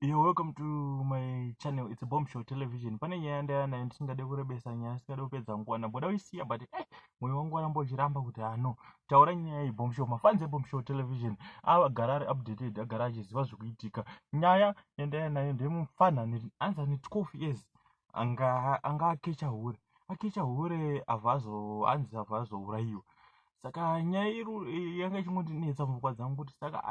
You're welcome to my channel. It's a bomb show television. Pane nyaya ndaya nayo ndisingade kurebesa nyaya singade kupedza nguwa namboda kuisiya but eh moyo wangu waramba uchiramba kuti ah no taura nyaya iyi bomb show mafans ebomb show television agara ari updated agara achiziva zvikuitika nyaya yandaya nayo ndemufanhaniri anzi ane 12 years anga anga akecha hure akecha hure avazo anzi avazourayiwa saka nyaya iri yanga ichingondinetsa mupfungwa dzangu kuti saka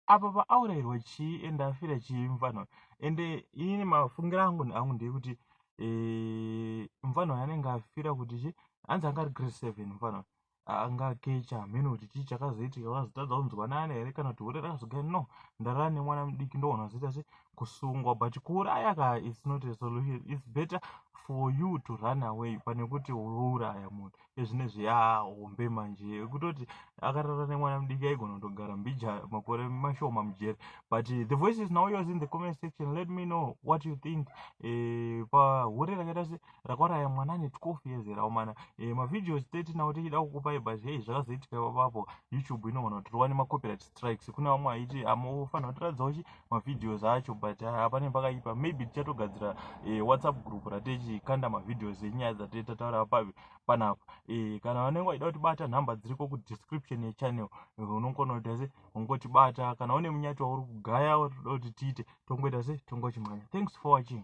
apa paaurairwa chii ende afira chii mfanha ende ini mafungira angu neangu ndeyekuti eh, mfanha uyo anenge afira kuti chi hanzi anga ari grade seven mfanha anga kecha hameno kuti chii chakazoitika vazotadza kunzwanana here kana kuti hure rakazoga no ndarara nemwana mudiki ndoona vazoita se kusungwa but kuuraya ka its not a solution its better for you to run away pane kuti urouraya munhu ezvinezvi yaa hombe manje yekutoti akarara nemwana mudiki aigona kutogara mbija makore mashoma mujeri but the voice is now yours in the comment section let me know what you think eh, pahure rakaita se rakwaraya mwana ane 12 years era umana eh, mavideos 30 nawo tichida kukupai but hei zvakazoitika papapo youtube inogona kuti rowane macopyright strikes kune vamwe aiti amofanira kutiradzawo chi mavideos acho but haa pane pakaipa maybe tichatogadzira eh, whatsapp group ratechikanda mavideos enyaya dzatee tataura pavi panapa eh, kana vanenge vaida kutibata nhamba dziriko kudistriction yechannel eh, unongona kuita se ungotibata kana une munyati wauri kugaya watoda kuti tiite tongoita se tongochimhanya thanks for watching